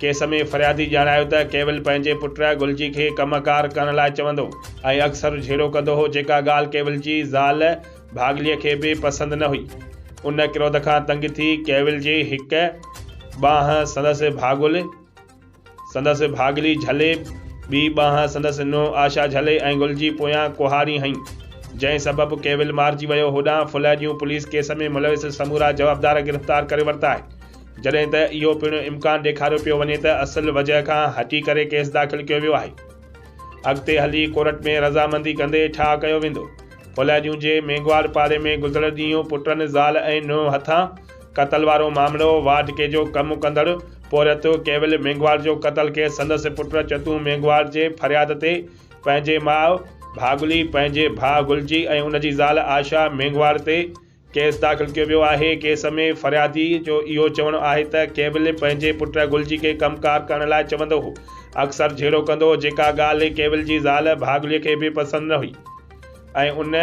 Case ۾ فريادي ڄاڻايو ته ڪيول پنهنجي پٽ گلجي کي ڪم ڪار ڪرڻ لاء چوندو ۽ اڪثر جهيڙو ڪندو هو جيڪا ڳالهه ڪيول جي زال ڀاڳليء کي به پسند نه هئي. ان ڪروڌ کان تنگ ٿي ڪيول جي هڪ ٻانهن سندس ڀاڳل سندس ڀاڳلي جهلي ٻي ٻانهن سندس نونهن آشا جهلي ۽ گلجي پويان ڪهاڙي هنئي جنهن سبب ڪيول مارجي ويو هوڏانهن ڦلهه ڄون پوليس ڪيس ۾ ملوث سمورا جوابدار گرفتار ڪري ورتا آهن جڏهن ته اهو پڻ امڪان ڏيکاريو پيو وڃي ته اصل وجهه کان هٽي ڪري ڪيس داخل ڪيو ويو آهي. اڳتي هلي ڪورٽ ۾ رضامندي ڪندي ٺاهه ڪيو ويندو. ڦولهاڄون جي مينگهواڙ پاري ۾ گذريل ڏينهن پٽن، زال ۽ نونهن هٿان قتل وارو معاملو وارڊ ڪي جو ڪم ڪندڙ پورهيت ڪيول مينگهواڙ جو قتل ڪيس سندس پٽ چتون مينگهواڙ جي فرياد تي پنهنجي ماء ڀاڳلي، پنهنجي ڀاء گلجي ۽ ان جي زال آشا مينگهواڙ تي ڪيس داخل ڪيو ويو آهي، ڪيس ۾ فريادي جو اهو چوڻ آهي ته ڪيول پنهنجي پٽ گل جي کي ڪم ڪار ڪرڻ لاء چوندو هو، اڪثر جهيڙو ڪندو هو، جيڪا ڳالهه ڪيول جي زال ڀاڳلي کي به پسند نه هئي ۽ ان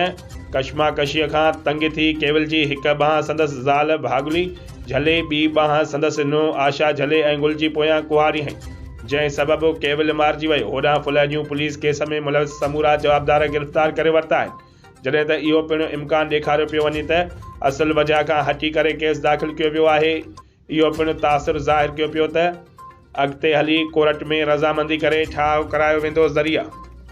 ڪشماڪشيء کان تنگ ٿي ڪيول جي هڪ ٻانهن سندس زال ڀاڳلي جهلي ٻي ٻانهن سندس نونهن آشا جهلي ۽ گل جي پويان ڪهاڙي هنئي، جنهن سبب مارجي ويو، هوڏانهن ڦلهه جون پوليس ڪيس ۾ ملوث سمورا جوابدار گرفتار ڪري ورتا آهن. جڏهن ته اهو پڻ امڪان ڏيکاريو پيو وڃي ته اصل وجهه کان هٽي ڪري ڪيس داخل ڪيو ويو آهي. اهو پڻ تاثر ظاهر ڪيو پيو ته اڳتي هلي ڪورٽ ۾ رضامندي ڪري ٺاهه ڪرايو ويندو. ذريعا.